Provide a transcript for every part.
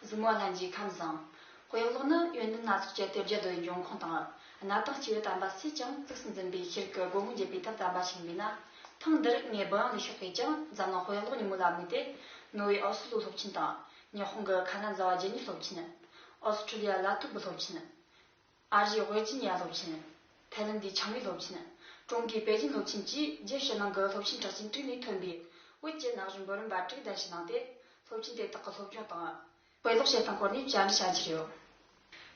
གཟིགས་མོ་བླ་མཆིས་ཁམས་བཟང། དཔེ་ཀློག་ནི་ཡོན་ཏན་སྣ་ཚོགས་ཀྱི་གཏེར་རྒྱ་རྡོའི་འབྱུང་ཁུངས་དང། གནའ་དང་སྤྱི་བོའི་དམ་པ་སུས་ཀྱང་གཙིགས་སུ་འཛིན་པའི་ཕྱིར་གྱི་སྒོ་མོ་འབྱེད་པའི་ཐབས་དམ་པ་ཞིག་མིན་ན། ཐེངས་འདིར་ངས་བུ་ཡང་ལས་ཤོག་གིས་ཀྱང་འཛམ་གླིང་དཔེ་ཀློག་ཉིན་མོ་ལ་དམིགས་ཏེ། ནོར་ཝེ་ཨོ་སི་ལུའུ་སློབ་ཆེན་དང། ཉི་ཧོང་གི་ཁ་ན་ཛ་བ་རྗེ་ཉིད་སློབ་ཆེན། ཨོ་སི་ཁྲི་ལི་ཡ་ལ་ཐུ་བུ་སློབ་ཆེན། ཨ་རིའི་ཝེར་ཇི་ནི་ཡ་སློབ་ཆེན། ཐའེ་ལེན་དའི་ཆང་ཡིག་སློབ་ཆེན། ཀྲུང་གོའི་པེ་ཅིན་སློབ་ཆེན་བཅས་རྒྱས་ཕྱི་ནང་གི་སློབ་ཆེན་གྲགས་ཅན་དྲུག་ནས་ཐོན་པའི་བོད་ཀྱི་ནག་གཞུང་འབུམ་རམས་པ་དྲུག་གདན་ཞུ་གནང་སྟེ་སློབ་ཆེན་དེ་དག་གི་སློབ་སྦྱོང་དང། དཔེ་ཀློག་བྱེད་སྟངས་སྐོར་ནས་བཅར་འདྲི་བྱ་རྒྱུ་ཡོད།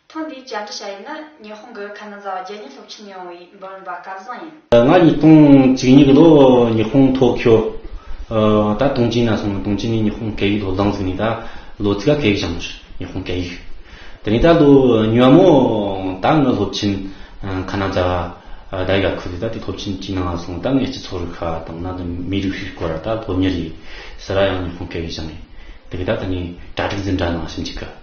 ཐེངས་འདིའི་བཅར་འདྲི་བྱ་ཡུལ་ནི་ཉི་ཧོང་གི་ཁ་ན་ཛ་བ་རྒྱལ་གཉེར་སློབ་ཆེན་ནས་ཡོང་བའི་འབུམ་རམས་པ་སྐལ་བཟང་ཡིན། ང་ཉིས་སྟོང་གཅིག་ཉིག་ལོ་ཉི་ཧོང་ཐོ་ཁྱོ་ད་ཏུང་ཅིན་ན་སོང་ཏུང་ཅིན་ནི་ཉི་ཧོང་སྐད་ཡིག་ལོ་ལངས་ཟིག་ནི་ད་ལོ་ཚིག་ག་སྐད་ཡིག་བྱང་ནོ་ཤི་ཉི་ཧོང་སྐད་ཡིག་དེ་ནི་ད་ལོ་ཉོ་མོ་ད་ང་སློབ་ཆེན་ཁ་ན་ཛ་ད་ཡི་ག་ཁུ་ལི་ད་དེ་སློབ་ཆེན་ཅིན་ན་སོང་ད་ངས་སྤྱི་ཚོགས་རིག་ཁ་དང་ན་ད་མི་རིགས་ཤིག་སྐོར་ད་སློབ་ཉེར་ཡིན་ཟེར་ཡང་ཉི་ཧོང་སྐད་ཡིག་བྱང་ཡིན་དེ་གི་ད་ད་ནི་གྲ་སྒྲིག་འཛིན་གྲ་ནང་ཞིམ་ཅིག་གི།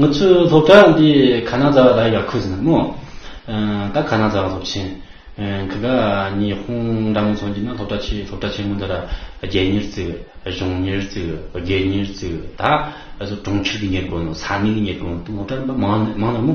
ང་ཚོའི་སློབ་གྲྭ་འདི་ག་ན་རྫ་བ་ལ་ཡར་ཁུ་ཟིན་ན་མོ། ད་ག་ན་རྫ་བ་སློབ་ཆེན། གི་ག་ཉི་ཧོང་འདྲ་མོ་ཚོ་འདི་ན་སློབ་གྲྭ་ཆེ་སློབ་གྲྭ་ཆེན་མོ་འདི་ར་བརྒྱད་ཉེར་བརྩིས་གི་གཞུང་ཉེར་བརྩིས་གི་བརྒྱད་ཉེར་བརྩིས་གི་ད་གྲོང་ཁྱེར་གྱི་ཉེར་དགོན་ནོ་ས་གནས་ཀྱི་ཉེར་དགོན་སློབ་གྲྭ་རིམ་པ་མང་མང་ན་མོ།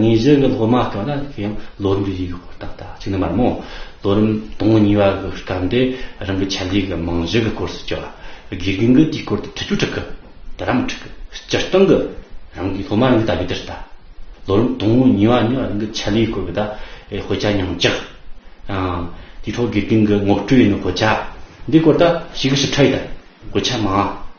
ངེད་གཞི་གི་སློབ་མ་སྐབས་ལ་དེ་ཡང་ལོ་རིམ་གྱི་ཡིག་ཧོར་ཏག་ཏག་ཅིག་ནི་མ་རེད་མོད། ལོ་རིམ་དང་བོ་གཉིས་པ་གི་སྐབས་འདི་རང་གི་ཆ་ལུགས་ཀྱི་རྨང་གཞི་གི་སྐོར་སོགས་བསྐྱར་བ་དགེ་རྒན་གྱིས་དེའི་སྐོར་དུ་ཐུགས་ཁུར་དྲག་གི་དེ་ལྟར་མ་འཁྲུག་གི་སྤྱིར་བཏང་གི་རང་གི་སློབ་མ་རང་གི་ལྟ་བའི་དེར་ལྟ། ལོ་རིམ་དང་བོ་གཉིས་པ་ནི་རང་གི་ཆ་ལུགས་སྐོར་གྱི་ད་དཔེ་ཆ་ཉུང་བཅག། དེའི་ཐོག་དགེ་རྒན་གྱི་ངོ་སྤྲོད་ཡིན་ནོ་གོ་ཆ་འདིའི་སྐོར་ད་ཞིག་གི་ཞིབ་ཕྲ་ཡིན་ད་གོ་ཆ་མང།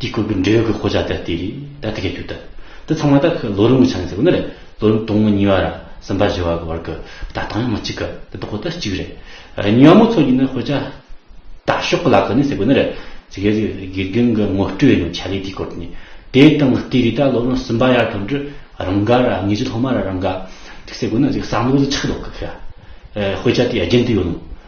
དེའི་སྐོར་གྱི་འབྲེལ་ཡོད་ཀྱི་ཤོ་ཆག་དེ་དེ་རེད་ད་དེ་ག་རྒྱུ་ད། དེ་ཚང་མ་ད་ཁོས་ལོ་རིམ་གྱི་ཆ་ནས་ཟེར་གོ་ན་རེད་ལོ་རིམ་དང་པོ་གཉིས་པ་ར་གསུམ་པ་བཞི་བ་གྱི་བར་གྱི་ད་ལྟ་ཡང་མི་གཅིག་གི་དེ་ད་ཁོ་ད་གཅིག་རེད། གཉིས་པ་མོ་ཚོ་གཉིས་ནི་ཤོ་ཆག་ད་ཤོག་གི་ལག་ཁྱེར་ནི་ཟེར་གོ་ན་རེད་ཟེར་གི་རེད་དགེ་རྒན་གྱི་ངོ་སྤྲོད་ཡིན་ནོ་ཆ་ལེ་དེའི་སྐོར་དེ་ནི། དེའི་སྟེང་གི་དེ་རེད་ད་ལོ་རིམ་གསུམ་པ་ཡར་ཐོན་དུས་རང་འགའ་ར་དངོས་གཞི་ལྷག་མ་ར་རང་འགའ། ཟེར་གོ་ན་ཟེར་གི་བསམ་བློ་ཟེར་ཆགས་ལོག་གི་ཤོ་ཆག་དེ་རྒྱུན་དུ་ཡོད་ནོ།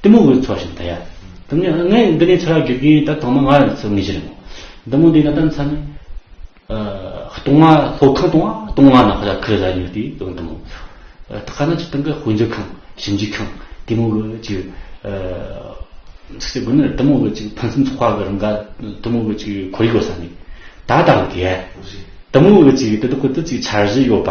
གཏི་མུག་གི་ཚོགས་ཞེས་བཟླ། ཡང་ངས་འདི་ནས་ཚེ་རབས་བརྒྱུད་ཀྱིས་ད་ཐོག་མ་ང་ལ་ཚོད་ངེས་ཅི་རེད། འདི་མོ་འདི་ན་ད་མཚམས་སྟོང་མ་ལྷོ་ཁང་སྟོང་མ་སྟོང་མ་ན་ཧོ་ད་ཁུ་རེ་ཟ་ཉོས་དུས་དོན་དུ་མོ། ད་ག་ན་ཅི་སྟོང་གི་དཔོན་རྒྱུད་ཁང་ཞིབ་འཇུག་ཁང་གཏི་མུག་གི་ཅི། ཚིག་དགོན་ནི་གཏི་མུག་གི་ཅི་ཕུན་སུམ་ཚོགས་པ་གི་རིང་ག་གཏི་མུག་གི་ཅི་ཁོར་ཡུག་གསར་ནི་ད་ལྟ་ལ་དགེ། གཏི་མུག་གི་ཅི་དེ་དག་གི་དུས་ཅིག་འཆར་གཞི་ཡོད་པ།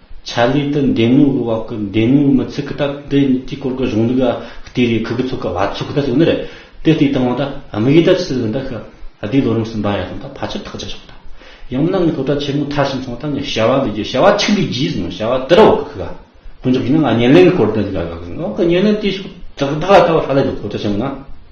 ཆ་ལུས་དུ་འདེམས་དམིགས་བཀོད་པ་ཀུན་འདེམས་དམིགས་མི་ཚུགས་སྟབས་བདེ་གཉིས་ཀྱི་སྐོར་གྱི་གཞུང་ལུགས་ལ་ལྟོས་རེས་ཁུ་གུ་ཚུགས་ཀ་བ་ཚུགས་ཀ་ད་ཚུགས་ནི་རེད་དེ་ལྟོས་དང་བ་ད་དམིགས་ཡེ་ད་ཕྱི་ལུགས་འདི་ཤི་བདེའི་ལོ་རིམ་གསུམ་པ་ཡ་ཐང་ད་ཕ་ཆུ་ཐག་ཅེས་ཆོག་ད་ཡང་མིན་ན་ངའི་སློབ་གྲྭ་ཆེན་མོ་མཐར་ཕྱིན་སོང་སྟབས་ངས་བྱ་བ་འདི་བྱས་བྱ་བ་ཆིག་འདི་བགྱིས་ཟིན་བྱ་བ་དེར་འོག་གི་ཤི་བ་དཀོན་མཆོག་གིས་ན་ང་བརྙན་ལེན་གྱི་སྐོར་དེ་འོག་གི་བརྙན་ལེན་དེ་ཤོག་ད་ལྟ་བ་ཧ་ལས་འདུག་སློབ་གྲྭ་ཆེན་མོ་ན་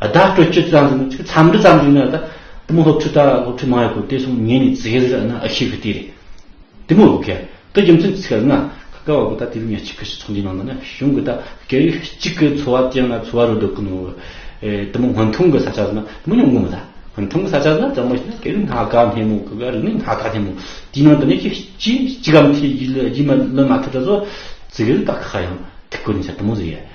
བརྡ་སྤྲོད་བཅུ་ཙམ་ཟིན་ན་འཚམས་འདྲི་ཙམ་ཞིག་ན་ད་དེ་མོ་སློབ་ཕྲུག་ད་སློབ་ཕྲུག་མང་ཡོད་དགོས་དེ་སོང་ཉིན་ནས་ཙི་གེ་ཟིག་ར་ཨ་ན་ཨ་ཤི་གི་དེ་རེད་དེ་མོ་ཨོ་ཁེ་ད་རྒྱུ་མཚན་ཚིག་ལྔ་ཁ་ཁ་བ་གོ་ད་དེ་བས་ཉེར་གཅིག་གི་ཚོགས་འདུའི་ནང་ད་ན་གཞུང་གི་ད་སྐད་ཡིག་གཅིག་གི་འཚོ་བ་ཅན་ལ་འཚོ་བ་རོལ་འགྲོ་གི་མོ་དེ་མོ་སྔོན་ཐོན་གི་ས་ཆ་ཟིན་ན་དེ་མོ་ཉུང་གི་མི་ད་སྔོན་ཐོན་གི་ས་ཆ་ཟིན་ན་ད་མོ་ཞིག་ན་སྐད་རིགས་སྣ་ཁ་སྣེ་མོ་གི་རིག་གནས་སྣ་ཁ་སྣེ་མོ་དེའི་ནང་དུ་ནས་ཀྱི་གཅིག་གམ་ཐེ་གཉིས་ལས་གཉིས་མ་ལོན་མ་ཐུབ་ད་གཟོད་ཙི་གེ་ཟིག་ད་ཁ་ཁ་ཡང་ཐིག་གོ་ནས་ཆ་དེ་མོ་ཟིག་ཡ།